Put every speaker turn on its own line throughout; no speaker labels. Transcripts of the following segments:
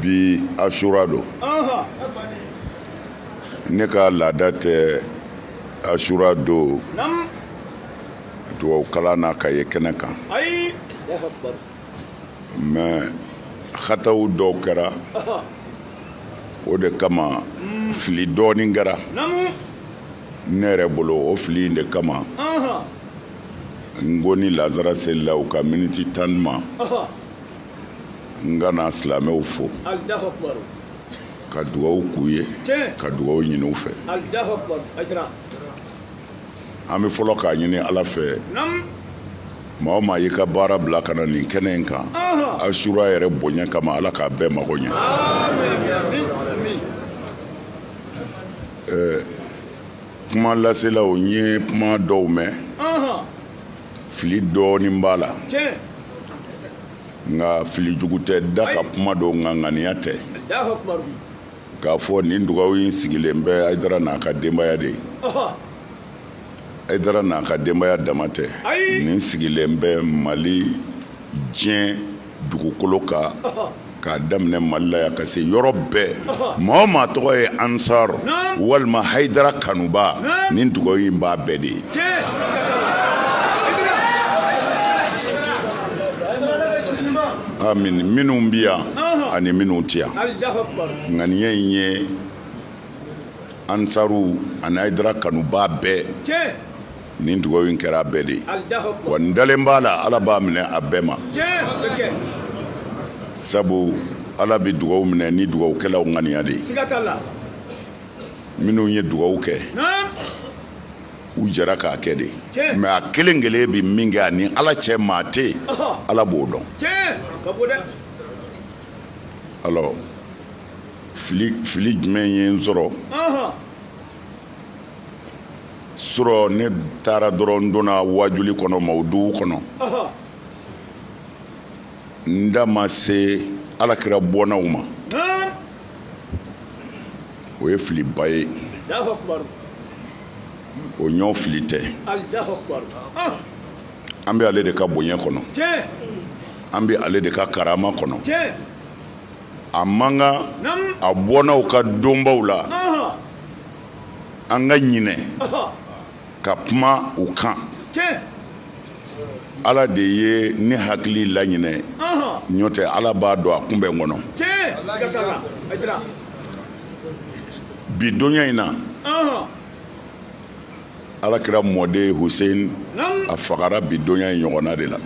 bi asura don ne ka laada tɛ asura don dugawukalan na ka ye kɛnɛ kan mais hataw dɔw kɛra o de kama mm. fili dɔɔnin kɛra ne yɛrɛ bolo o fili in de kama n ko ni lazara selila u ka miniti tan di n ma n ka na silamɛw fo ka dugawu k'u ye ka dugawu ɲini u fɛ an bɛ fɔlɔ k'a ɲini ala fɛ maa o maa y'i ka baara bila ka na nin kɛnɛ in kan asura yɛrɛ bonya kama ala k'a bɛɛ mago ɲɛ kuma laselaw n ye kuma dɔw mɛn fili dɔɔnin b'a la nka fili jugu tɛ da ka kuma don nka ŋaniya tɛ k'a fɔ nin dugawu in sigilen bɛ hayidara n'a ka denbaya de ye hayidara n'a ka denbaya dama tɛ nin sigilen bɛ mali diɲɛ dugukolo kan k'a daminɛ mali la yan ka se yɔrɔ bɛɛ maa o maa tɔgɔ ye ansar walima hayidara kanuba nin dugawu in b'a bɛɛ de ye amin minnu bɛ yan ani minnu tɛ yan ŋaniya in ye ansaru ani hayidara kanuba bɛɛ nin dugawu in kɛra a bɛɛ de ye wa n dalen b'a la ala b'a minɛ a bɛɛ ma sabu ala bɛ dugawu minɛ ni dugawukɛlaw ŋaniya de ye minnu ye dugawu kɛ u jɛra k'a kɛ de mais a kelen kelen bɛ min kɛ a ni ala cɛ maa tɛ yen ala b'o dɔn alors fili jumɛn ye n sɔrɔ surɔ ne taara dɔrɔn donna wajuli kɔnɔ mawuduw kɔnɔ n da ma se ala kira bɔnnaw ma o ye filiba ye o ɲɔ fili tɛ an bɛ ale de ka bonya kɔnɔ an bɛ ale de ka karama kɔnɔ a man kan a bɔnnaw ka donbaw la an ka ɲinɛ ka kuma u kan ala de ye ne hakili laɲinɛ n'o tɛ ala b'a dɔn a kunbɛn kɔnɔ bi donya in na ala kira mɔden husein a fagara bi donya in ɲɔgɔnna de la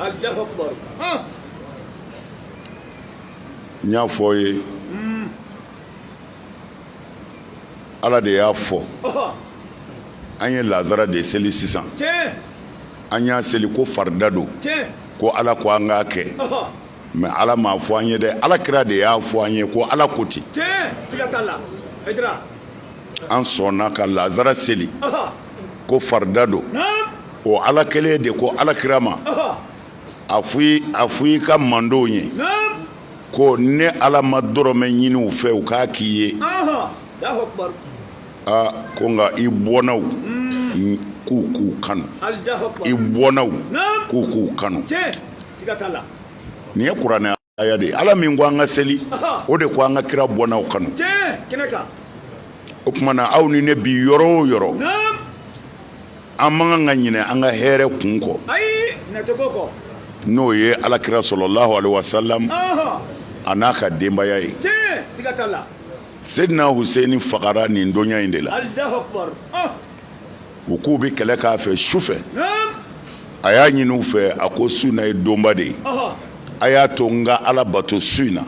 n y'a fɔ aw ye ala de y'a fɔ an ye lazara de seli sisan an y'a seli ko farida don ko ala ko an k'a kɛ mais ala m'a fɔ an ye dɛ ala kira de y'a fɔ an ye ko ala ko ten an sɔnna ka lazara seli ko farida don o ala kelen de ko ala kira ma a fɔ i a fɔ i ka mandenw ye ko ne ala ma dɔrɔmɛ ɲini u fɛ u k'a k'i ye aa ko nka i bɔnnaw mm. k'u k'u kanu i bɔnnaw k'u k'u kanu nin ye kuranɛ aya de ala min ko an ka seli o de ko an ka kira bɔnnaw kanu o tuma na aw ni ne bi yɔrɔ o yɔrɔ an man kan ka ɲinɛ an ka hɛrɛ kun kɔ n'o ye alakira sɔlɔlahu alaihi wasalam a n'a ka denbaya ye sedina huseni fagara nin donya in de la u k'u bɛ kɛlɛ k'a fɛ su fɛ a y'a ɲini u fɛ a ko su in na ye donba de ye a y'a to n ka ala bato su in na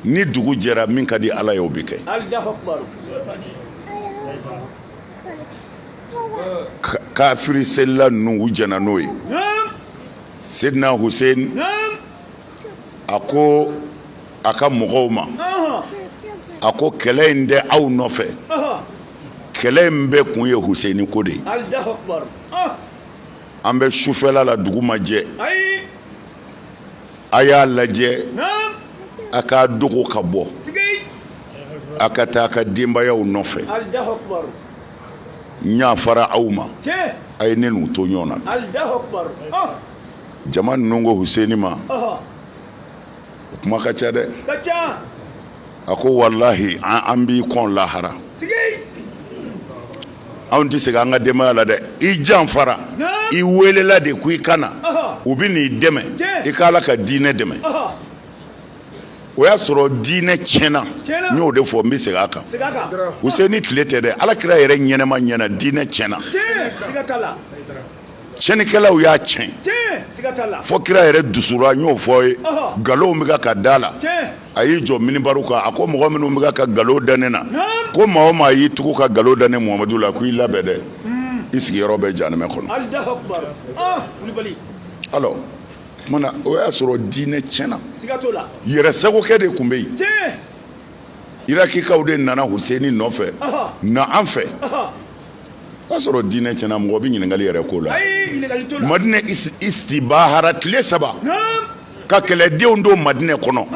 ni dugu jɛra min ka di ala ye o bɛ kɛ kafiri selila ninnu u jɛnna n'o ye sedina huseni a ko a ka mɔgɔw ma a ko kɛlɛ in tɛ aw nɔfɛ kɛlɛ in bɛɛ kun ye huseni ko de ye ah! an bɛ sufɛla la dugu ma jɛ a y'a lajɛ a k'a dogo ka bɔ a ka taa a ka denbayaw nɔfɛ n y'a fara aw ma a ye ne n'u to ɲɔgɔn na ah! jama ninnu ko huseni ma o kuma ka ca dɛ a ko walahi an b'i kɔn lahara anw tɛ segin an ka denbaya la dɛ i janfara i welela de ko i ka na u bɛ n'i dɛmɛ i ka ala ka diinɛ dɛmɛ o y'a sɔrɔ diinɛ tiɲɛna n y'o de fɔ n bɛ segin a kan huseni tile tɛ dɛ ala kira yɛrɛ ɲɛnama ɲɛna diinɛ tiɲɛna tiɲɛnikɛlaw y'a tiɲɛ fo kira yɛrɛ dusura n y'o fɔ ye nkalonw bɛ ka ka da la a y'i jɔ minibari kan a ko mɔgɔ minnu bɛ ka nkalon da ne na ko maa o maa y'i tugu ka nkalon da ne Muhamadu la ko i labɛn dɛ hmm. i sigiyɔrɔ bɛ jahanamɛ kɔnɔ ah, alors o tuma na o y'a sɔrɔ diinɛ tiɲɛna yɛrɛsagokɛ de tun bɛ yen irakikaw de nana Huseni nɔfɛ na an fɛ o y'a sɔrɔ diinɛ tiɲɛna mɔgɔ bɛ ɲininkali yɛrɛ ko la madinɛ istibahara tile saba ka kɛlɛdenw don madinɛ kɔnɔ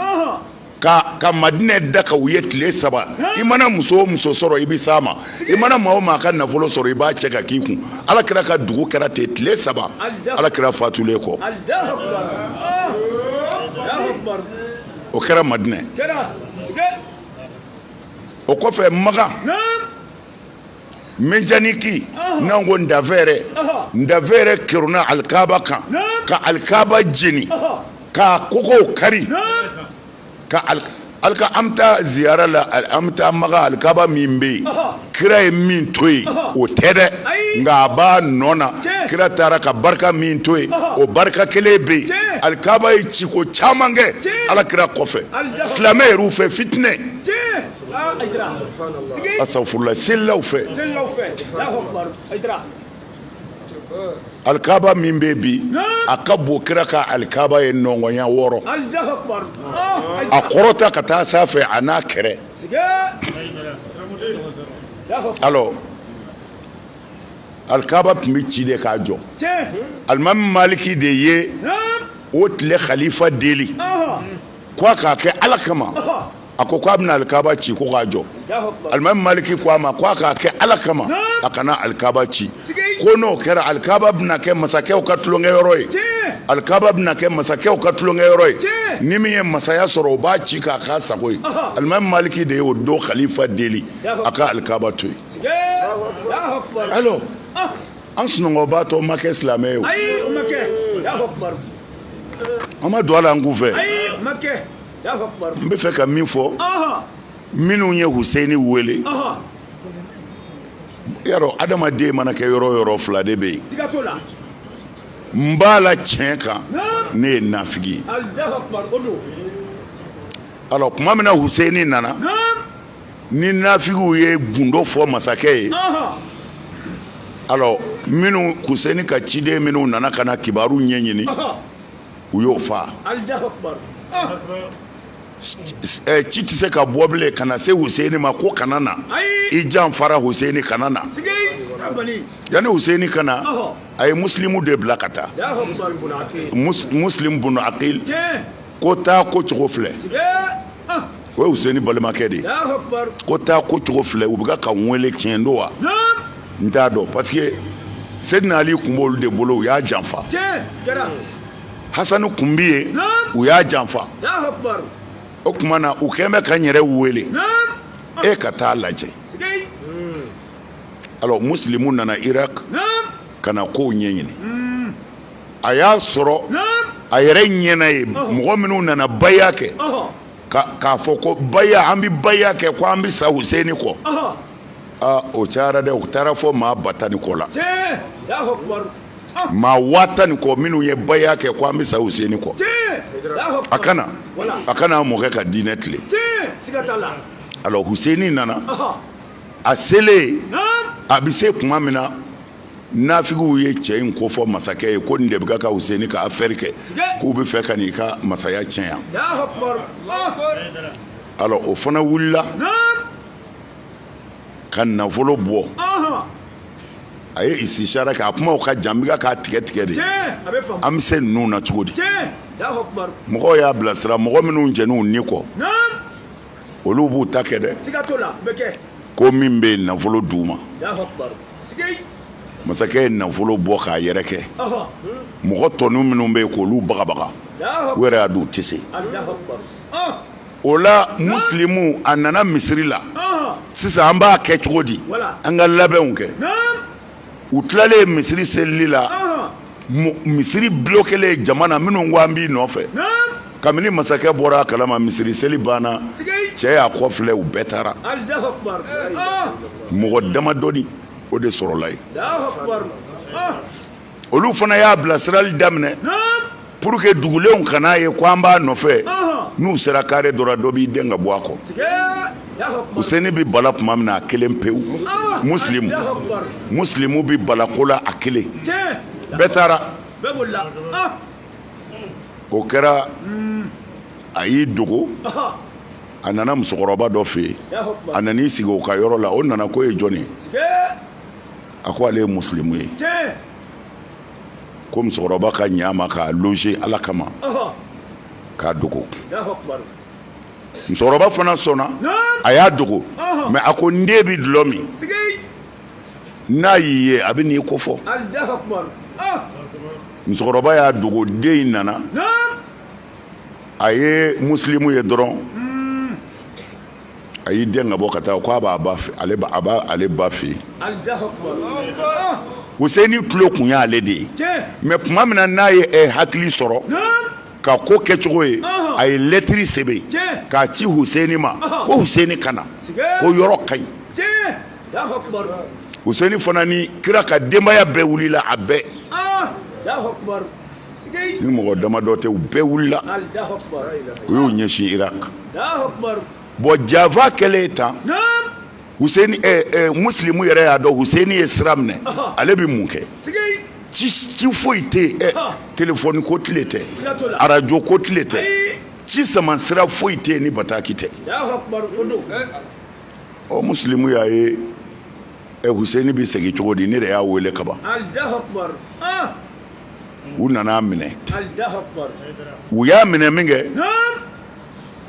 ka madinɛ daga u ye tile saba i mana muso o muso sɔrɔ i bɛ s'a ma i mana maa o maa ka nafolo sɔrɔ i b'a cɛ ka k'i kun ala kira ka dugu kɛra ten tile saba ala kira fatulen kɔ o kɛra madinɛ o kɔfɛ makan menjaniki n'an ko ndafɛɛrɛ ndafɛɛrɛ kerunna alikaba kan ka alikaba jeni k'a kogow kari ka alika an bɛ taa ziyara la an bɛ taa makan alikaba min bɛ yen kira ye min to yen o tɛ dɛ nka a b'a nɔ na kira taara ka barika min to yen o barika kelen bɛ yen alikaba ye ciko caman kɛ alakira kɔfɛ silamɛ yɛrɛw fɛ fitinɛ astafurula selilaw fɛ alikaba min bɛ bi a ka bon kira ka alikaba ye nɔngɔnya wɔɔrɔ a kɔrɔta ka taa sanfɛ a n'a kɛrɛ alors alikaba tun bɛ ci de k'a jɔ alimami maliki de ye o tile khalifa deli k'a k'a kɛ ala kama a ko k'a bɛna alikaba ci ko k'a jɔ alimami maliki ko a ma ko a k'a kɛ ala kama a kana alikaba ci ko n'o kɛra alikaba bɛna kɛ masakɛw ka tulonkɛyɔrɔ ye alikaba bɛna kɛ masakɛw ka tulonkɛyɔrɔ ye ni min ye masaya sɔrɔ o b'a ci k'a k'a sago ye alimami maliki de y'o don khalifa deli a ka alikaba to yen alors an sunɔgɔbatɔ ma kɛ silamɛ ye o an ma don a la an kunfɛ n bɛ fɛ ka min fɔ minnu ye Huseni wele yarɔ adamaden mana kɛ yɔrɔ o yɔrɔ fila de bɛ yen nin b'a la tiɲɛ kan nin ye nafigi ye alors tuma min na Huseni nana ni nafigiw ye gundo fɔ masakɛ ye alors minnu Huseni ka ciden minnu nana ka na kibaru ɲɛɲini u y'o fa ci tɛ se ka bɔ bilen ka na se Huseni ma ko kana na i janfara Huseni kana na yanni Huseni ka na a ye musilimu de bila ka taa musilimu bunu akil ko taa ko cogo filɛ o ye useni balimakɛ de ye ko taa ko cogo filɛ u bɛ ka n wele tiɲɛ don wa n t'a dɔn parce que sedina ali kun b'olu de bolo u y'a janfa hasani kun bi yen u y'a janfa o tuma na u kɛn bɛ ka n yɛrɛ wele e ka taa a lajɛ alors musilimu nana iraq ka na kow ɲɛɲini hmm. a y'a sɔrɔ a yɛrɛ ɲɛna ye mɔgɔ minnu nana baya kɛ k'a fɔ ko baya an bɛ baya kɛ ko an bɛ sa Huseni kɔ aa o cayara dɛ u taara fɔ maa ba tan ni kɔ la maa waa tan ni kɔ minnu ye baya kɛ ko an bɛ sa Huseni kɔ a ka na a ka na a mɔkɛ ka diinɛ tilen alors Huseni nana a selen a bɛ se tuma min na nafigiw ye cɛ in kofɔ masakɛ ye ko nin de bɛ ka useni ka afɛri kɛ k'u bɛ fɛ ka n'i ka masaya tiɲɛ yan alors o fana wulila ka nafolo bɔ a ye isishara kɛ a kumaw ka jan n bɛ k'a tigɛ tigɛ de an bɛ se ninnu na cogo di mɔgɔw y'a bilasira mɔgɔ minnu jɛn'u ni kɔ olu b'u ta kɛ dɛ ko min bɛ nafolo d'u ma masakɛ ye nafolo bɔ k'a yɛrɛkɛ mɔgɔ tɔnu minnu bɛ yen k'olu bagabaga u yɛrɛ y'a dɔn u tɛ se o la musilimu a nana misiri la sisan an b'a kɛ cogo di an ka labɛnw kɛ u tilalen misiri selili la misiri bulokelen jama na minnu ko an b'i nɔfɛ kabini masakɛ bɔra a kalama misiri seli banna cɛ y'a kɔfilɛ u bɛɛ taara mɔgɔ damadɔni o de sɔrɔla yen olu fana y'a bilasirali daminɛ pour que dugulenw kan'a ye ko an b'a nɔfɛ n'u sera kare dɔ la dɔ b'i den ka bɔ a kɔ useni bɛ bala tuma min na a kelen pewu musilimu musilimu bɛ bala ko la a kelen bɛɛ taara o kɛra a y'i dogo a nana musokɔrɔba dɔ fɛ yen a nan'i sigi o ka yɔrɔ la o nana k'o ye jɔni ye a ko ale ye musilimu ye ko musokɔrɔba ka ɲ'a ma k'a loger ala kama k'a dogo musokɔrɔba fana sɔnna a y'a dogo mais a ko n den bi dulɔ min n'a y'i ye a bɛ n'i kofɔ musokɔrɔba y'a dogo den in nana a ye musilimu ye dɔrɔn a y'i den ka bɔ ka taa k'a b'a ba fɛ ale a b'a ale ba fɛ yen Huseni tulo kun y'ale de ye mais tuma min na n'a ye ɛ hakili sɔrɔ ka ko kɛcogo ye a ye lɛtiri sɛbɛn k'a ci Huseni ma ko Huseni ka na ko yɔrɔ ka ɲi Huseni fana ni kira ka denbaya bɛɛ wulila a bɛɛ ni mɔgɔ damadɔ tɛ u bɛɛ wulila u y'u ɲɛsin irak bon janfa kɛlen tan huseni eh, eh, musilimu yɛrɛ y'a dɔn huseni ye sira minɛ ale bɛ mun kɛ ci ci foyi tɛ yen eh, telefɔni ko tile tɛ arajo ko tile tɛ ci sama sira foyi tɛ yen ni bataki tɛ ɔ musilimu y'a ye ɛ huseni bɛ segin cogo di ne de y'a wele ka ban u nan'a minɛ u y'a minɛ minkɛ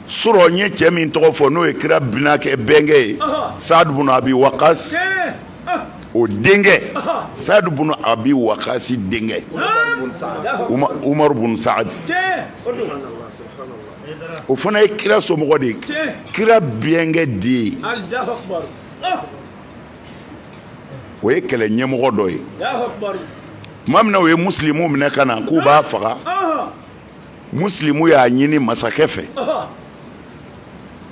sɔrɔ n ye cɛ min tɔgɔ fɔ n'o ye kira binakɛ bɛnkɛ ye sadu bun abi wakasi o denkɛ sadu bun abi wakasi denkɛ umaru bun saadi o fana ye kira somɔgɔ de ye kira bɛnkɛ de ye o ye kɛlɛ ɲɛmɔgɔ dɔ ye tuma min na u ye musilimu minɛ ka na k'u b'a faga musilimu y'a ɲini masakɛ fɛ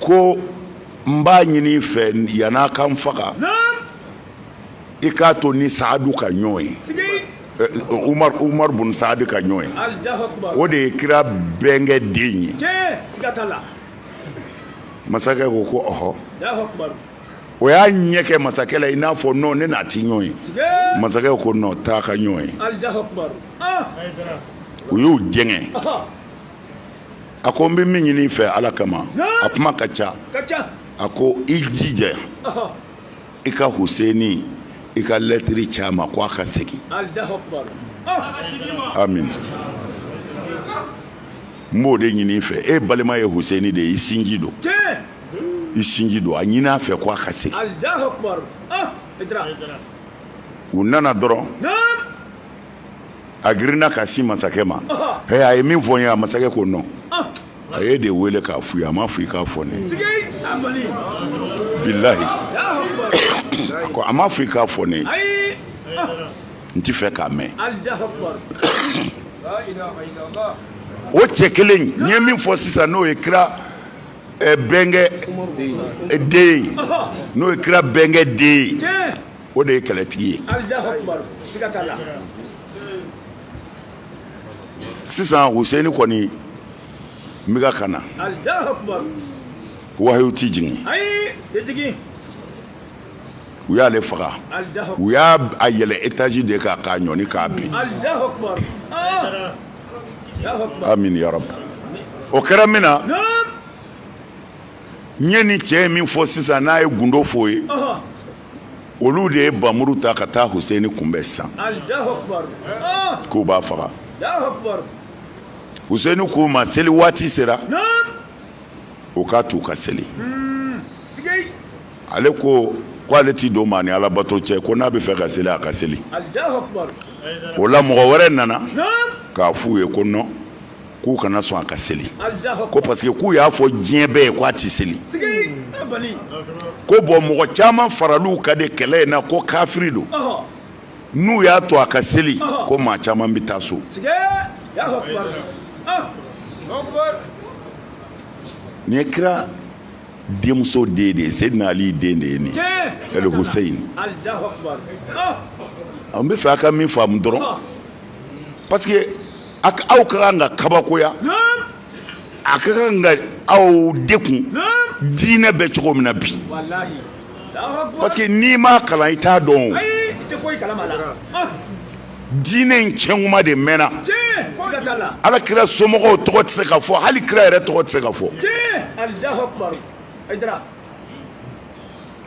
ko n b'a ɲini i fɛ yann'a ka n faga i k'a to n ni saadu ka ɲɔgɔn ye umar umar bun saadu ka ɲɔgɔn ye o de ye kira bɛnkɛ den ye masakɛ ko ko ɔhɔ o y'a ɲɛ kɛ masakɛ la i n'a fɔ non ne n'a ti ɲɔgɔn ye masakɛ ko non taa ka ɲɔgɔn ye ah! u y'u jɛngɛ a ko n bɛ min ɲini i fɛ ala kama a kuma ka ca a ko i jija i ka huseni i ka lɛtiri ci a ma ko a ka segin amin n b'o de ɲini i fɛ e balima ye huseni de ye i sinji don i sinji don a ɲini a fɛ ko a ka segin u nana dɔrɔn a girinna ka sin masakɛ ma hɛ a ye min fɔ n ye a masakɛ ko non a y'e de wele k'a fɔ i ye a m'a fɔ i k'a fɔ ne ye bilahi ko a m'a fɔ i k'a fɔ ne ye n ti fɛ k'a mɛn o cɛ kelen n ye min fɔ sisan n'o ye kira eh, bɛnkɛ eh, den ye n'o ye kira bɛnkɛ den ye o de ye kɛlɛtigi ye sisan huseni kɔni n bɛ ka ka na wahayu ti jigin u y'ale faga u y'a a yɛlɛ etazi de kan k'a ɲɔni k'a bin amin ya rabi o kɛra min na n ye nin cɛ ye min fɔ sisan n'a ye gundo f'o ye olu de ye bamuru ta ka taa huseni kunbɛn sisan ah! k'u b'a faga huseni k'u ma seli waati sera u k'a t'u ka seli hmm, ale ko ko ale t'i don maa ni alabato cɛ ko n'a bɛ fɛ ka seli a ka seli o la mɔgɔ wɛrɛ nana k'a f'u ye ko nɔn k'u kana sɔn a ka seli ko parce que k'u y'a fɔ diɲɛ bɛɛ ye k'a tɛ seli ko bɔn mɔgɔ caman faral'u kan de kɛlɛ in na ko kafiri don n'u y'a to a ka seli ko maa caman bɛ taa so nin ye kira denmuso den de ye seyidina ali den de ye nin ɛli huseyin an bɛ fɛ a ka min faamu dɔrɔn parce que a ka aw ka kan ka kabakoya a ka kan ka aw dekun diinɛ bɛ cogo min na bi parce que n'i m'a kalan i t'a dɔn o diinɛ in cɛnkuma de mɛnna ala kira somɔgɔw tɔgɔ tɛ se ka fɔ hali kira yɛrɛ tɔgɔ tɛ se ka fɔ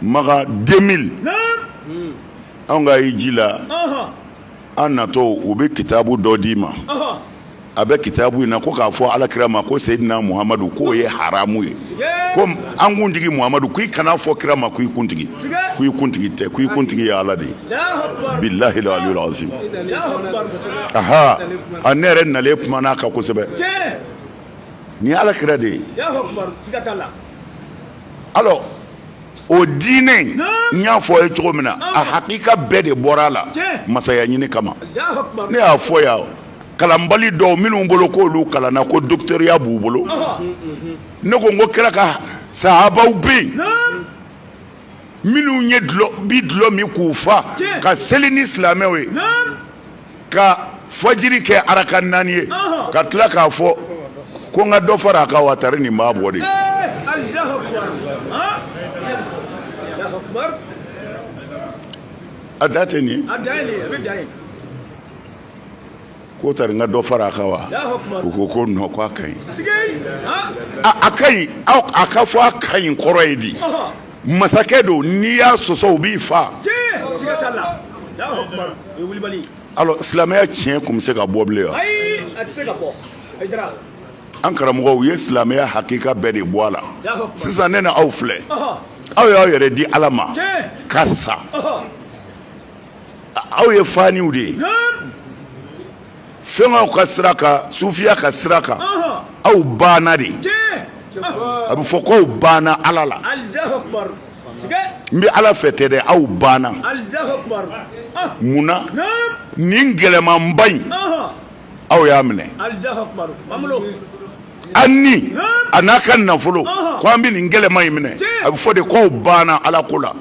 maka 2000 anw ka hiji la an natɔ u bɛ kitabu dɔ d'i ma a bɛ kitabu in na ko k'a fɔ alakira ma ko seyidina muhamadu k'o ye haramu ye ko an kuntigi muhamadu k'i kana fɔ kira ma k'i kuntigi k'i kuntigi tɛ k'i kuntigi ye ala de ye bilahi aliyul azim aha a ne yɛrɛ nalen kuman'a kan kosɛbɛ nin ye alakira de ye alors o diinɛ n y'a fɔ a ye cogo min na a hakika bɛɛ de bɔra a la masaya ɲini kama ne y'a fɔ yan kalanbali dɔw minnu bolo k'olu kalanna ko docteuriya b'u bolo ne ko n ko kira ka sahabaw bɛ yen minnu ye bi dulɔ min k'u fa ka seli ni silamɛw ye ka fajiri kɛ araka naani ye ka tila k'a fɔ ko n ka dɔ fara a kan wa tari nin b'a bɔ de a da tɛ nin ye ko tari n ka dɔ fara a kan wa u ko ko nɔn ko a ka ɲi a ka ɲi a ka fɔ a ka ɲi kɔrɔ ye di masakɛ don n'i y'a sɔsɔ u b'i faa alors silamɛya tiɲɛ kun bɛ se ka bɔ bilen wa an karamɔgɔ u ye silamɛya hakika bɛɛ de bɔ a la sisan ne na aw filɛ aw y'aw yɛrɛ di ala ma ka sa aw ye faniw de ye fɛnkaw ka sira kan sufiya ka sira kan aw banna de a bɛ fɔ ko aw banna ala la n bɛ ala fɛ tɛ dɛ aw banna ah. mun na nin gɛlɛmanba in aw y'a minɛ an ni a n'a ka nafolo ko an bɛ nin gɛlɛman in minɛ a bɛ fɔ de k'aw banna ala ko la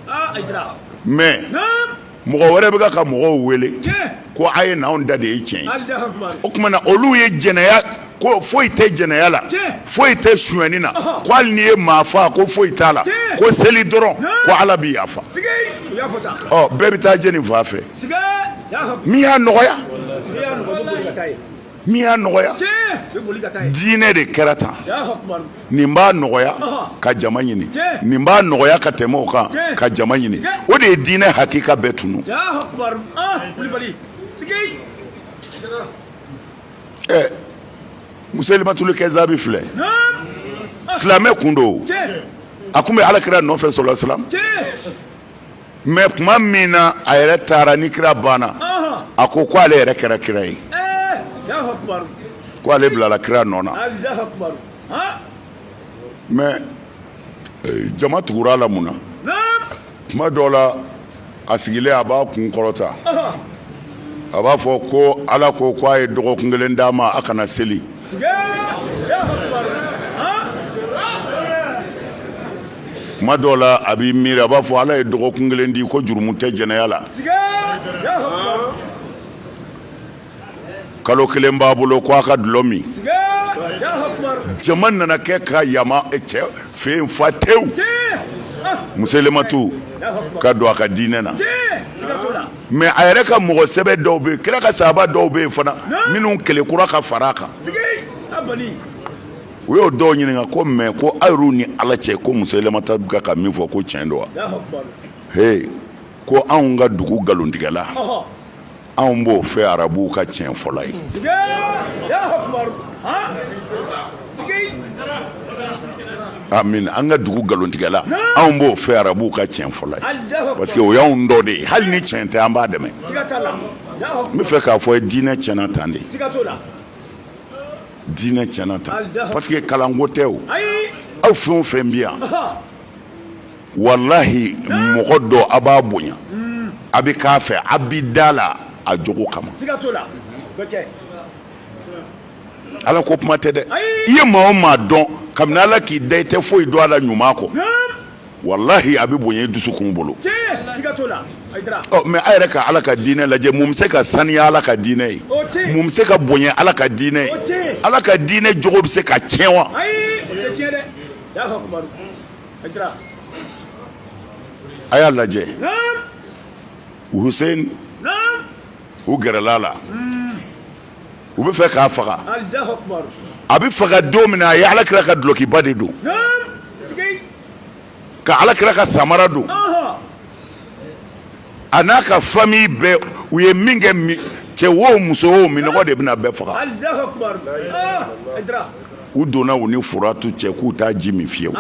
ah, mais mɔgɔ wɛrɛ bɛ ka mɔgɔw wele ko a ye na anw ta de ye tiɲɛ o kuma na olu ye jɛnɛya ko foyi tɛ jɛnɛya la foyi tɛ suɲɛni na ko hali n'i ye maa faa ko foyi t'a la ko seli dɔrɔn ko ala bɛ yafa bɛɛ bɛ taa jɛ nin fan fɛ min y'a nɔgɔya min y'a nɔgɔya diinɛ de kɛra tan nin b'a nɔgɔya ka jama ɲini nin b'a nɔgɔya ka tɛmɛ o kan ka jama ɲini o de ye diinɛ hakika bɛɛ tunu ɛ musailimatul kazzabi filɛ silamɛ kun don a kun bɛ alakira nɔfɛ sallallahu alaihi wasallam mais kuma min na a yɛrɛ taara ni kira banna a ko ko ale yɛrɛ kɛra kira ye ko ale bilala kira nɔ na mais eh, jama tugura a la mun na kuma dɔw la a sigilen a b'a kun kɔrɔta a b'a fɔ ko ala ko ko a ye dɔgɔkun kelen d'a ma a kana seli kuma dɔw la a b'i miiri a b'a fɔ ala ye dɔgɔkun kelen di ko jurumu tɛ jɛnɛya la kalo kelen b'a bolo ko a ka dulɔ min jama nana kɛ ka yama eh, cɛ fɛ yen fa tewu musailimatu ka don a ka diinɛ na mais a yɛrɛ ka mɔgɔ sɛbɛ dɔw bɛ yen kira ka sahaba dɔw bɛ yen fana minnu kɛlɛ kura ka fara a kan u y'o dɔw ɲininka ko mais ko aw yɛrɛ ni ala cɛ ko musailimatu bɛ ka min fɔ ko tiɲɛ don wa he ko anw ka dugu nkalontigɛla anw b'o fɛ arabuw ka tiɲɛfɔla ye amin an ka dugu nkalontigɛla anw b'o fɛ arabuw ka tiɲɛ fɔla ye parce que o y'anw dɔ de ye hali ni tiɲɛ tɛ an b'a dɛmɛ n bɛ fɛ k'a fɔ diinɛ tiɲɛna tan de diinɛ tiɲɛna tan parce que kalanko tɛ o aw fɛn o fɛn bɛ yan walahi mɔgɔ dɔ a b'a bonya a bɛ k'a fɛ a bɛ da la a jogo kama ala ko kuma tɛ dɛ i ye maa o maa dɔn kabini ala k'i da i tɛ foyi dɔn a la ɲuman kɔ walahi a bɛ bonya i dusukun bolo mais a yɛrɛ ka ala ka diinɛ lajɛ mun bɛ se ka saniya ala ka diinɛ ye mun bɛ se ka bonya ala ka diinɛ ye ala ka diinɛ jogo bɛ se ka tiɲɛ wa a y'a lajɛ Hussein u gɛrɛla a la u bɛ fɛ k'a faga a bɛ faga don min na a ye ala kira ka dulɔkiba de don ka ala kira ka samara don a n'a ka famille bɛɛ u ye min kɛ cɛ wo muso wo minnɔgɔ de bɛna bɛɛ faga u donna u ni furatu cɛ k'u t'a ji min fiyewu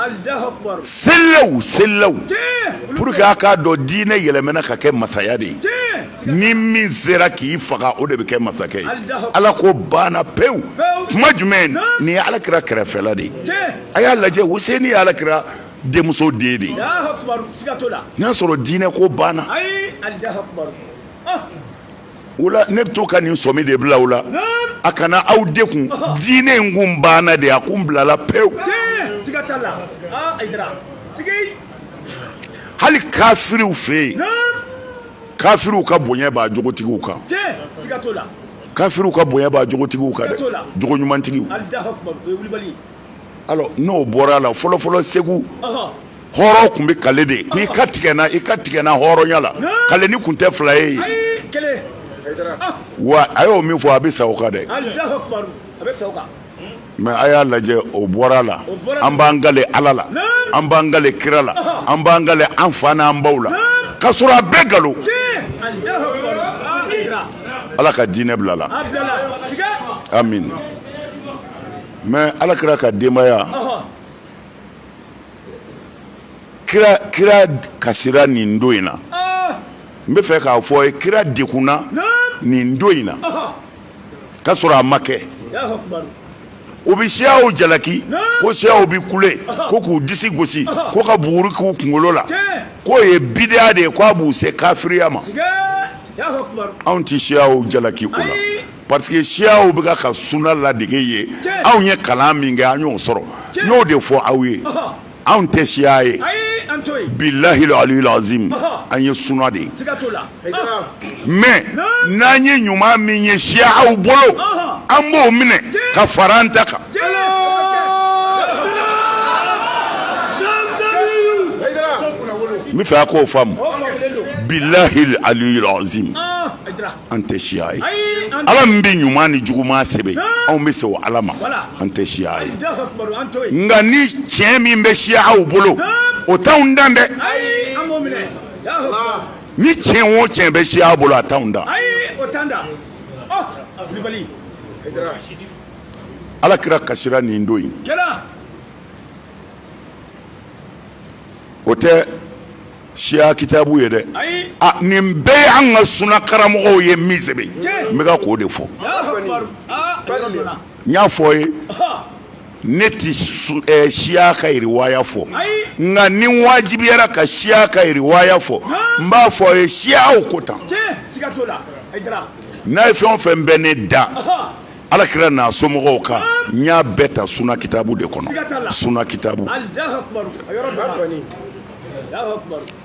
selilaw selilaw pour que a k'a dɔn diinɛ yɛlɛmɛna ka kɛ masaya de ye ni min sera k'i faga o de bɛ kɛ masakɛ ye ala ko banna pewu tuma jumɛn nin ye ala kira kɛrɛfɛla de ye a y'a lajɛ Hussein ye ala kira denmuso den de ye n'a sɔrɔ diinɛ ko banna o la ne bɛ to ka nin sɔmi de bila aw la a kana aw dekun diinɛ in kun banna de a kun bilala pewu hali kafiriw fɛ yen kafiriw ka bonya b'a jogotigiw kan kafiriw ka bonya b'a jogotigiw kan dɛ jogo ɲumantigiw alors n'o bɔra a la fɔlɔfɔlɔ segu hɔrɔn kun bɛ kale de ko i ka tigɛ n na i ka tigɛ n na hɔrɔnya la kaleni kun tɛ fila ye wa a y'o min fɔ a bɛ sa o kan dɛ mais a y'a lajɛ o bɔra a la an b'an kale ala la an b'an kale kira la an b'an kale an fa n'an baw la ka sɔrɔ a bɛɛ galo ala ka diinɛ bila la amin mais ala kira ka denbaya kira kasira nin don in na n bɛ fɛ k'a fɔ a ye kira dekunna nin don in na k'a sɔrɔ a ma kɛ u bɛ siyaw jalaki ko siyaw bɛ kule ko k'u disi gosi ko ka buguri k'u kunkolo la k'o ye bideya de ye k'a b'u se kafiriya ma anw tɛ siyaw jalaki o la. parce que siyaw bɛ ka suna ladege ye anw ye kalan min kɛ an y'o sɔrɔ n y'o de fɔ aw ye anw tɛ siya ye bilahi aliyu azim an ye suna de ye mais n'an ye ɲuman min ye siyaw bolo an b'o minɛ ka fara an ta kan n b'a fɛ a k'o faamu bilahi aliyu azim an tɛ siya ye ala min bɛ ɲuman ni juguman sɛbɛn anw bɛ se o ala ma an tɛ siya ye nka ni tiɲɛ min bɛ siyaw bolo o t'anw dan dɛ ni tiɲɛ o tiɲɛ bɛ siyaw bolo a t'anw dan oh, ala kira kasira nin don in o tɛ siya kitabu ye dɛ a nin bɛɛ ye an ka suna karamɔgɔw ye min sɛbɛn n bɛ ka k'o de fɔ n y'a fɔ a ye ne tɛ eh, siya ka riwaya fɔ nka ni wajibiyara ka siya ka riwaya fɔ n b'a fɔ a ye siyaw ko tan n'a ye fɛn o fɛn mɛn ne da alakira n'a somɔgɔw kan n y'a bɛɛ ta suna kitabu de kɔnɔ suna kitabu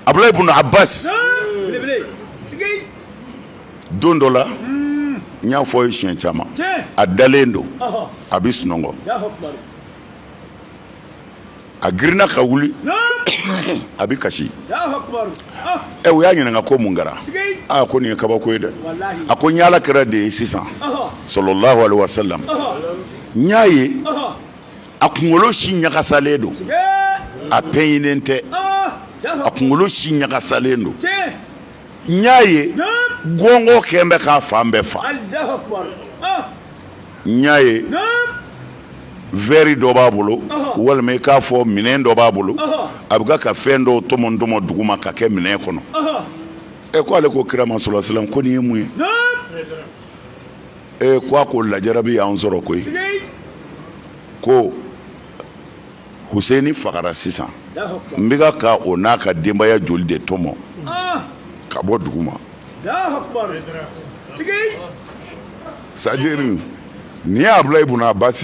abulayi ibnu abbas don dɔ la n y'a fɔ a ye siɲɛ caman a dalen don a bɛ sunɔgɔ a girinna ka wuli a bɛ kasi ɛ u y'a ɲininka ko mun kɛra aa ko nin ye kabako ye dɛ a ko n y'ala kira de ye sisan salalahu alaihi wasalam n y'a ye a kunkolo si ɲagasalen don a pɛɲinen tɛ a kunkolo si ɲagasalen don n y'a ye gɔngɔ kɛn bɛ k'a fan bɛɛ fa n y'a ye vɛri dɔ b'a bolo walima i k'a fɔ minɛn dɔ b'a bolo a bɛ ka fɛn dɔw tɔmɔ tɔmɔ duguma ka kɛ minɛn kɔnɔ ɛ ko ale ko kira ma salalahu alaihi wasalam ko nin ye mun ye ee ko a ko lajarabi y'an sɔrɔ koyi ko huseni fagara sisan n bɛ ka ka o n'a ka denbaya joli de tɔmɔ ka bɔ duguma c'est-à-dire ni abulayi bun abbas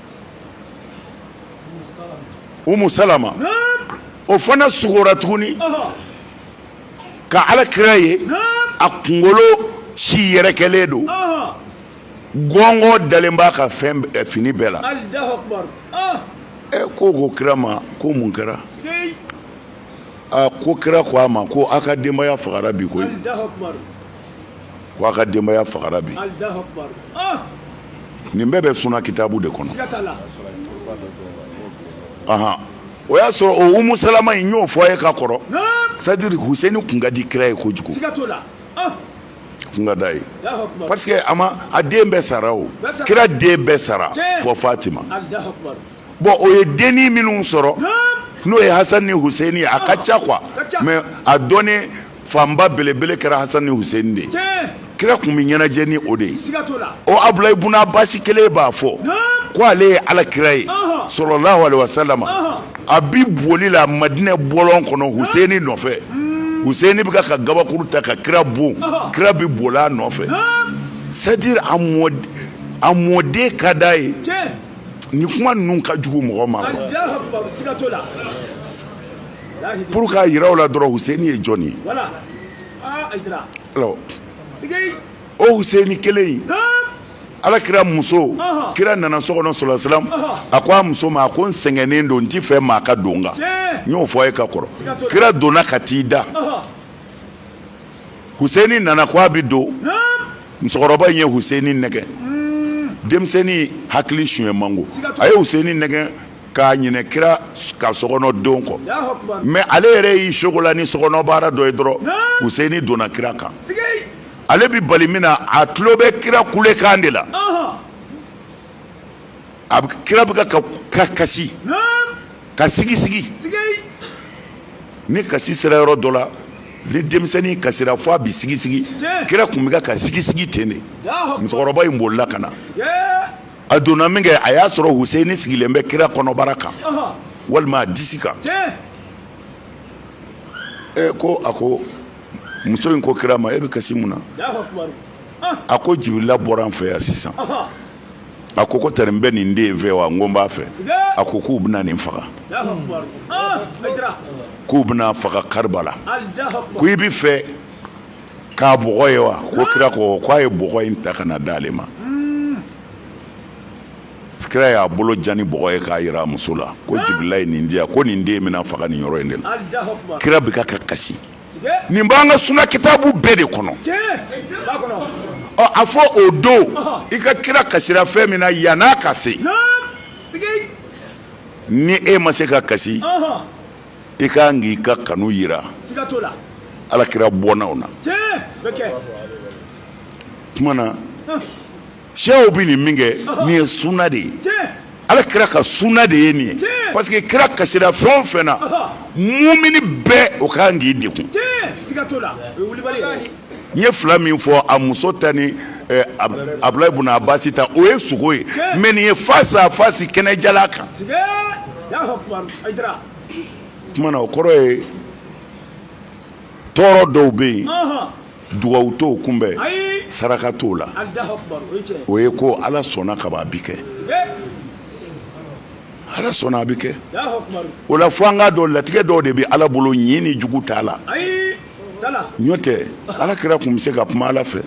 umu salama o fana sugora tuguni ka ala kira ye a kunkolo si yɛrɛkɛlen don gɔngɔ dalen b'a ka fɛn eh, fini bɛɛ la ah. ɛ eh, ko ko kira ma ko mun kɛra a ah, ko kira ko a ma ko a ka denbaya fagara bi koyi ko a ka denbaya fagara bi nin bɛɛ bɛ suna kitabu de kɔnɔ ahan o y'a sɔrɔ o umu salama in y'o fɔ a ye ka kɔrɔ c'est à dire huseni kun ka di kira ye kojugu kun ka d'a ye parce que a ma a den bɛɛ sara o kira den bɛɛ sara fɔ fatima bon o ye denni minnu sɔrɔ n'o ye hasan ni huseni ye a ka ca quoi mais a dɔnnen fanba belebele kɛra hasan ni huseni de ye kira kun bɛ ɲɛnajɛ ni o de ye o abulayi bun abasi kelen b'a fɔ ko ale ye ala kira ye salalahu alaihi wasalama a bi boli la madinɛ bɔlɔn kɔnɔ huseni nɔfɛ hmm. huseni bɛ ka gabakuru ta ka kira bon kira bi bol'a nɔfɛ c'est à dire a mɔden ka d'a ye ni kuma ninnu ka jugu mɔgɔ ma pour k'a yira u la dɔrɔn huseni ye jɔn ye alors o huseni kelen in ala kira muso kira nana so kɔnɔ salalahu alaihi wasalam a ko a muso ma a ko n sɛgɛnnen don n ti fɛ maa ka don kan n y'o fɔ a ye ka kɔrɔ kira donna ka t'i da Huseni nana ko a bɛ don musokɔrɔba in ye Huseni nɛgɛ hmm. denmisɛnnin hakili suɲɛ man go a ye Huseni nɛgɛ k'a ɲinɛ kira ka sokɔnɔ don kɔ mais ale yɛrɛ y'i sogola ni sokɔnɔ baara dɔ ye dɔrɔn Huseni donna kira kan ale bɛ bali min na a tulo bɛ kira kulekan de la. a bɛ kira bɛ ka ka ka kasi naam ka sigi sigi sigay ni kasi sera yɔrɔ dɔ la ni denmisɛnnin kasira fɔ a bɛ sigi sigi Tiɲɛ. kira kun bɛ ka ka sigi sigi ten de lahu akbar musokɔrɔba in bolila ka na sigay a donna min kɛ a y'a sɔrɔ huseni sigilen bɛ kira kɔnɔbara kan aha walima a disi kan tiɲɛ e ko a ko muso in ko kira ma e bɛ kasi mun na lahu akbar ah a ko jibirila bɔra an fɛ yan sisan aha a ko ko tari n bɛ nin den fɛ wa n ko n b'a fɛ a ko k'u bɛna nin faga k'u bɛna faga karibala ko i bɛ fɛ k'a bɔgɔ ye wa ko kira ko k'a ye bɔgɔ in ta ka na d'ale ma kira y'a bolo jan ni bɔgɔ ye k'a yira a muso la ko jibirila ye nin di yan ko nin den bɛna faga nin yɔrɔ in de la kira bɛ ka kasi nin b'an ka suna kitabu bɛɛ de kɔnɔ a fɔ o don i ka kira kasira fɛn min na yann'a ka se ni e ma se ka kasi i ka kan k'i ka kanu yira alakira bɔnnaw na kuma na Siyaw bɛ nin min kɛ nin ye suna de ye ala kira ka suna de ye nin ye parce que kira kasira fɛn o fɛn na mumini bɛɛ o ka kan k'i degun n ye fila min fɔ a muso ta ni abulayi bun abasi ta o ye sogo ye mais nin ye face à face kɛnɛ jalan kan kuma na o kɔrɔ ye tɔɔrɔ dɔw bɛ yen dugawu t'o kunbɛn saraka t'o la o ye ko ala sɔnna ka ban a bi kɛ ala sɔnna a bi kɛ o la fo an k'a dɔn latigɛ dɔw de bɛ ala bolo ɲi ni jugu t'a la n'o tɛ ala kira kun bɛ se ka kuma ala fɛ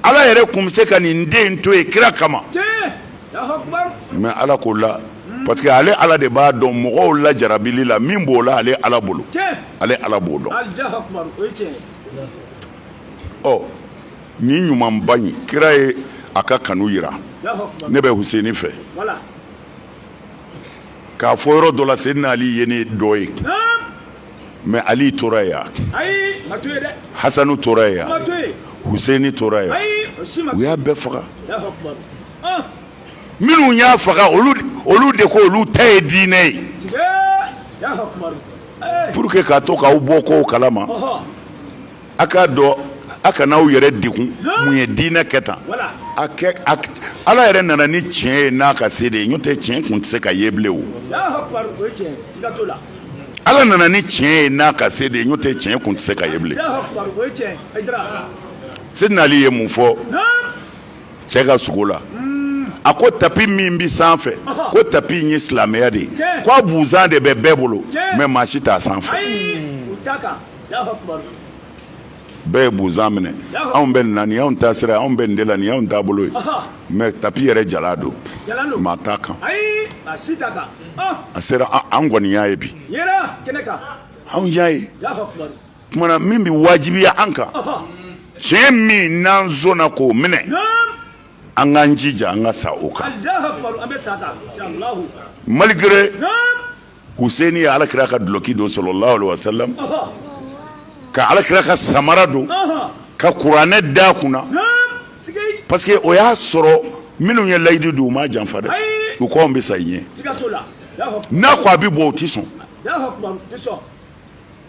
ala yɛrɛ kun bɛ se ka nin den to yen kira kama mais ala k'o la parce que ale ala de b'a dɔn mɔgɔw la jarabili la min b'o la ale ala bolo ale ala b'o dɔn ɔ ni ɲumanba in kira ye a ka kanu yira ne bɛ huseni fɛ k'a fɔ yɔrɔ dɔ la seyidina ali ye ne dɔ ye mais ali tora yan hasanu tora yan huseini tora yan u y'a bɛɛ faga minnu y'a faga olu de ko olu ta ye diinɛ ye pour que k'a to k'aw bɔ kow kalama a k'a dɔn a kana aw yɛrɛ degun mun ye diinɛ kɛ tan a kɛ ala yɛrɛ nana ni tiɲɛ ye n'a ka se de ye n'o tɛ tiɲɛ kun tɛ se ka ye bilen o ala nana ni tiɲɛ ye n'a ka se de ye n'o tɛ tiɲɛ kun tɛ se ka ye bilen seyidina ali ye mun fɔ cɛ ka sogo la hmm. a ko tapi min bɛ sanfɛ ko tapi in ye silamɛya de ye ko a buzan de bɛ bɛɛ bolo mais maa si t'a sanfɛ bɛɛ ye buzan minɛ anw bɛ nin na nin y'anw taasira ye anw bɛ nin de la nin y'anw taabolo ye mais tapi yɛrɛ jalan don maa t'a kan a sera an kɔni y'a ye bi anw y'a ye kuma na min bɛ wajibiya an kan tiɲɛ min n'an sɔnna k'o minɛ an k'an jija an ka sa o kan malgré Hussein ye ala kira ka dulɔki don sallallahu alayhi wasallam ka ala kira ka samara don ka kuranɛ d'a kun na parce que o y'a sɔrɔ minnu ye layidu don u m'a janfa dɛ u k'an bɛ sa i ɲɛ n'a ko a bɛ bɔ o tɛ sɔn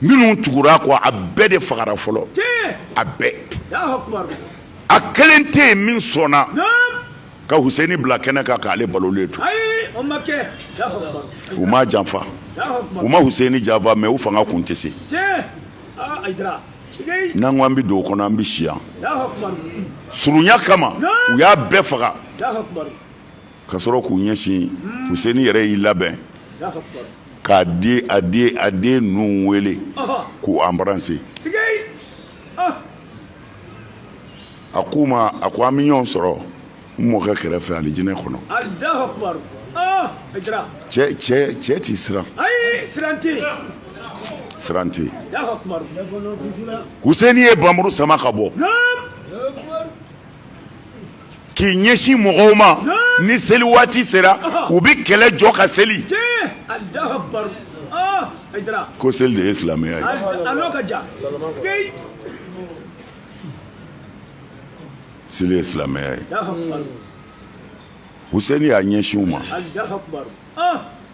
minnu tugura a kɔ a bɛɛ de fagara fɔlɔ a bɛɛ a kelen tɛ yen min sɔnna ka huseni bila kɛnɛ kan k'ale balolen to u ma janfa u ma huseni janfa mɛ u fanga kun tɛ se n'an ko an bɛ don o kɔnɔ an bɛ si yan surunya kama u y'a bɛɛ faga ka sɔrɔ k'u ɲɛsin huseni yɛrɛ y'i labɛn k'a di a di a den ninnu wele k'u anbarase a k'u ma a ko an bɛ ɲɔgɔn sɔrɔ n mɔkɛ kɛrɛfɛ alijinɛ kɔnɔ cɛ cɛ cɛ ti siran siran tɛ huseni ye bamuru sama ka bɔ k'i ɲɛsin mɔgɔw ma ni seli waati sera u bɛ kɛlɛ jɔ ka seli ko seli de ye silamɛya ye seli ye silamɛya ye Huseni y'a ɲɛsin u ma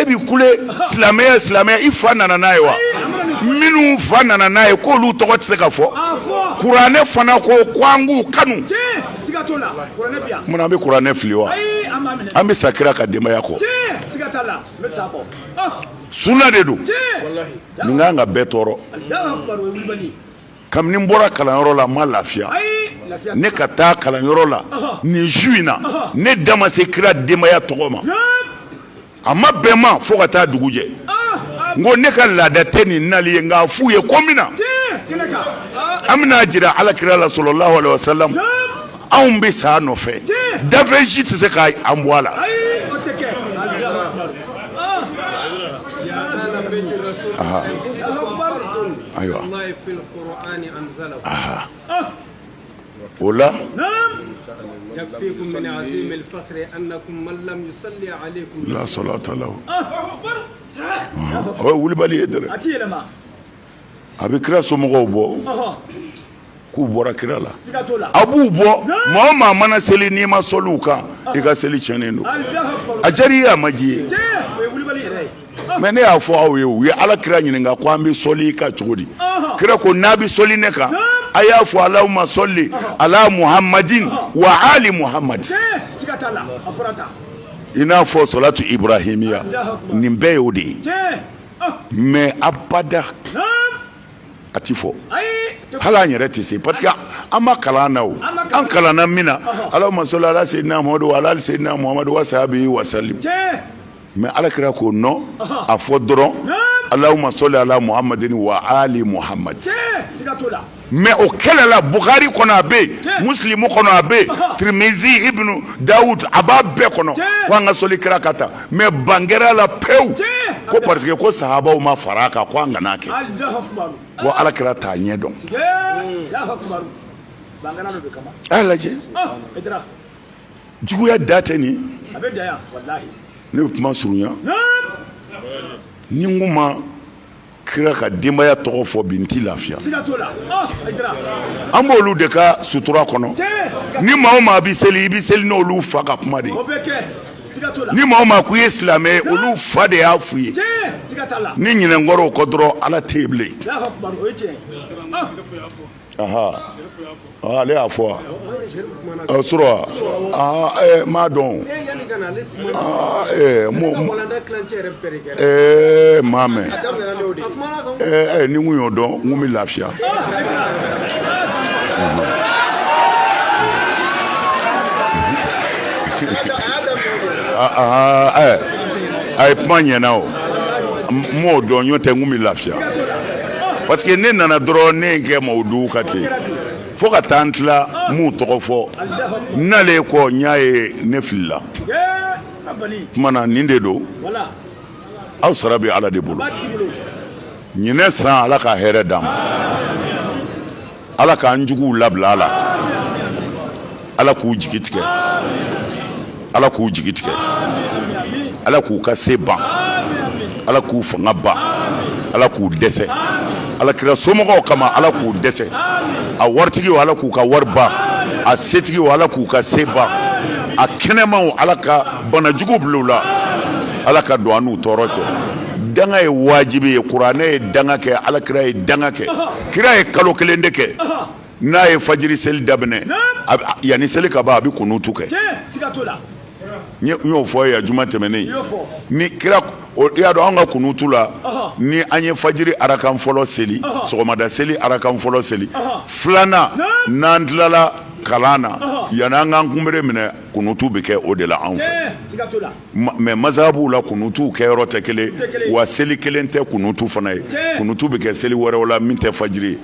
e bi kule silamɛya silamɛya i fa nana n'a ye wa minnu fa nana n'a ye k'olu tɔgɔ tɛ se ka fɔ kuranɛ fana ko ko an k'u kanu mun an bɛ kuranɛ fili wa an bɛ sa kira ka denbaya kɔ sunna de don nin ka kan ka bɛɛ tɔɔrɔ kabini n bɔra kalanyɔrɔ la n ma lafiya ne ka taa kalanyɔrɔ la nin su in na ne da ma se kira denbaya tɔgɔ ma a ma bɛn n ma fo ka taa dugu jɛ n ko ne ka laada tɛ nin nali ye nka a f'u ye ko min na an bɛna jira alakira la salalahu alayhi wa salam anw bɛ sa nɔfɛ dafɛn si tɛ se ka an bɔ a la ayiwa o
la la salata
lahu ye wulibali ye dɛ a bɛ kira somɔgɔw bɔ k'u bɔra kira la a b'u bɔ maa o maa mana seli n'i ma sɔli u kan i ka seli tiɲɛnen don a diyara i ye a ma diya i ye mɛ ne y'a fɔ aw ye u ye ala kira ɲininka ko an bɛ sɔli i kan cogo di kira ko n'a bɛ sɔli ne kan a y'a fɔ alahuma sɔli ala muhamadi wa ali muhamadi i n'a fɔ sɔlatu ibrahimiya nin bɛɛ y'o de ye mais abada a tɛ fɔ hali an yɛrɛ tɛ se parce que an ma kalan na o an kalanna min na allahuma sɔli ala sayidina muhamadu wa ali sayidina muhamadu wa sahabihi wasalim mais ala kira ko non a fɔ dɔrɔn allahuma sɔli ala muhamadin wa ali muhamadu mais o kɛlɛ la bukari kɔnɔ a bɛ yen musilimu kɔnɔ a bɛ yen tirimizi ibnu dawud a b'a bɛɛ kɔnɔ ko an ka sɔli kira kan tan mais bangera la pewu ko parce que ko sahabaw ma fara a kan ko an kana kɛ ko ala kira t'a ɲɛ dɔn a lajɛ juguya dan tɛ nin ne bɛ kuma surunya ni n kun ma kira ka denbaya tɔgɔ fɔ bi n tɛ lafiya oh, an b'olu de ka sutura kɔnɔ ni maa o maa bɛ seli i bɛ seli n'olu fa ka kuma de ye ni maa o maa ko i ye silamɛ ye olu fa de y'a f'u ye n'i ɲinɛna kɔrɔw kɔ dɔrɔn ala tɛ yen bilen oh. ale y'a fɔ wa sɔrɔ wa n m'a dɔn n m'a mɛn ni n kun y'o dɔn n kun bɛ lafiya a ye kuma ɲɛna o n m'o dɔn n'o tɛ n kun bɛ lafiya parce que ne nana dɔrɔn ne ye kɛ mawudu kan ten fo ka taa n tila n m'u tɔgɔ fɔ n nalen kɔ n y'a ye ne filila kuma na nin de don aw sara bɛ ala de bolo ɲinɛ san ala ka hɛrɛ d'an ma ala k'an juguw labila a la ala k'u jigi tigɛ ala k'u jigi tigɛ ala k'u ka se ban ala k'u fanga ban ala k'u dɛsɛ ala kira somɔgɔw kama ala k'u dɛsɛ a waritigiw ala k'u ka wari ban a setigiw ala k'u ka se ban a kɛnɛmaw ala ka banajugu bila u la ala ka don an n'u tɔɔrɔ cɛ danga ye wajibi ye kuranɛ ye danga kɛ ala kira ye danga kɛ kira ye kalo kelen de kɛ n'a ye fajiri seli daminɛ yanni seli ka ban a bɛ kunutu kɛ n y'o fɔ yan juma tɛmɛnen ni kira i y'a dɔn an ka kunutu la ni an ye fajiri arakan fɔlɔ seli sɔgɔmada seli arakan fɔlɔ seli filanan n'an tilala kalan na yanni an k'an kunbere minɛ kunutu bɛ kɛ o de la anw fɛ mɛ mazabuw la kunutu kɛyɔrɔ tɛ kelen wa seli kelen tɛ kunutu fana ye kunutu bɛ kɛ seli wɛrɛw la min tɛ fajiri ye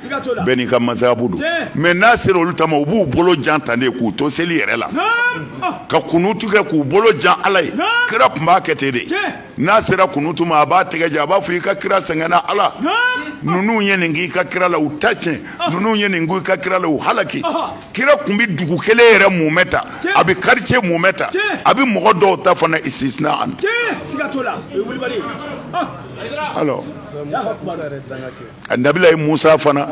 bɛɛ n'i ka mazabu don mɛ n'a sera olu ta ma u b'u bolo jan tan de k'u to seli yɛrɛ la ka kunutu kɛ k'u bolo jan ala ye kira tun b'a kɛ ten de n'a sera kunutu ma a b'a tɛgɛ jan a b'a fɔ i ka kira sɛgɛnna ala ninnu ye nin k'i ka kira la u ta tiɲɛ ninnu ye nin k'i ka kira la u halaki kira tun bɛ dugu kelen yɛrɛ mumɛ ta a bɛ karice mumɛ ta a bɛ mɔgɔ dɔw ta fana istisna an. alors nabilayi musa fana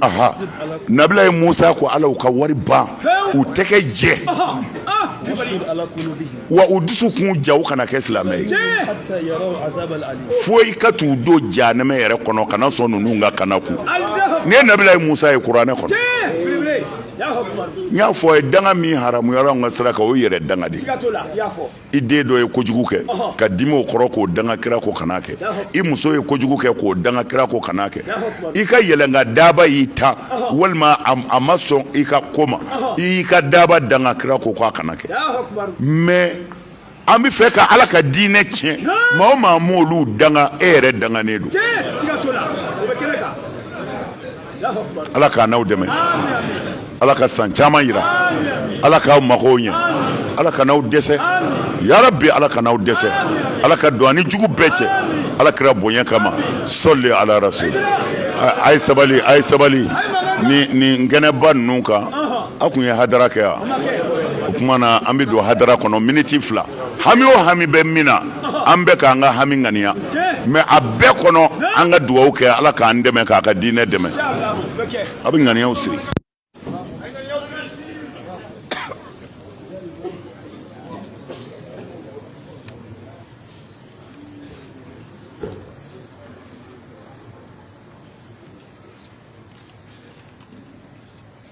aha nabilayi musa ko ala u ka wari ban u tɛgɛ jɛ wa u dusukun ja u kana kɛ silamɛ ye fo i ka t'u don janɛmɛ yɛrɛ kɔnɔ kana sɔn ninnu ka kana koyi nin ye nabilayi musa ye kuranɛ kɔnɔ n y'a fɔ aw ye danga min haramuyara an ka sira kan o yɛrɛ danga de i den dɔ ye kojugu kɛ ka dimi o kɔrɔ k'o danga kira ko kana kɛ i muso ye kojugu kɛ k'o danga kira ko kana kɛ i ka yɛlɛnkan daaba y'i tan walima a ma sɔn i ka ko ma i y'i ka daaba danga kira ko k'a kana kɛ mais an bɛ fɛ ka ala ka diinɛ tiɲɛ maa o maa m'olu danga e yɛrɛ danganen don ala k'an n'aw dɛmɛ ala ka san caman yira aw la k'aw magow ɲɛ ala kan'aw dɛsɛ yarabi ala kan'aw dɛsɛ ala ka don an ni jugu bɛɛ cɛ ala kira bonya kama sɔli ala rasul a ye sabali a ye sabali ni nin kɛnɛba ninnu kan aw tun ye hadara kɛ yan o tuma na an bɛ don hadara kɔnɔ miniti fila hami o hami bɛ min na an bɛɛ k'an ka hami ŋaniya mɛ a bɛɛ kɔnɔ an ka dugawu kɛ ala k'an dɛmɛ k'a ka diinɛ dɛmɛ a bɛ ŋaniyaw siri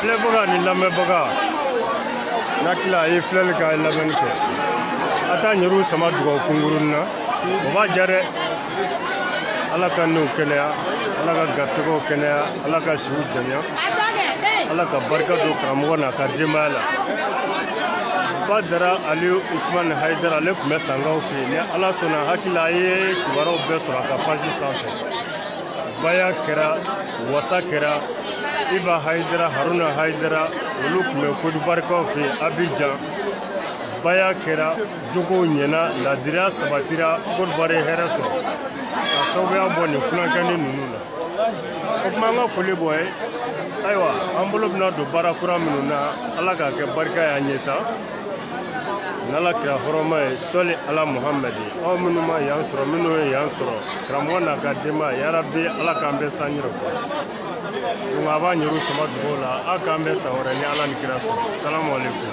filɛbaga ni lamɛnbaga n'a tila a ye filɛli kɛ a ye lamɛnni kɛ a t'an yɛrɛw sama dugawu kunkurunnin na o b'a diya dɛ ala ka niw kɛnɛya ala ka garisɛgɛw kɛnɛya ala ka siw janya ala ka barika don karamɔgɔ n'a ka denbaya la badara ali usumani hayidara ale tun bɛ sankaw ni ala sɔnna hakilila a ye kibaruyaw bɛɛ sɔrɔ a ka page sanfɛ baya kɛra wasa kɛra iba hayidara haruna hayidara olu tun bɛ kodibarikaw fɛ abijan baya kɛra jogow ɲɛna ladiriya sabatira kodibari ye hɛrɛ sɔrɔ ka sababuya bɔ nin funankɛni ninnu na o tuma an ka foli b'o ye ayiwa an bolo bɛna don baara kura minnu na ala k'a kɛ barika y'an ye sa n'ala kira hɔrɔma ye sɔli ala muhamadi aw minnu ma yan sɔrɔ minnu ye yan sɔrɔ karamɔgɔ n'a ka denbaya yarabi ala k'an bɛɛ san yɛrɛ kɔ donc a b'a ɲɛru sama dugaw la a k'an bɛɛ san wɛrɛ ni ala ni kira sɔrɔ salamu aleykum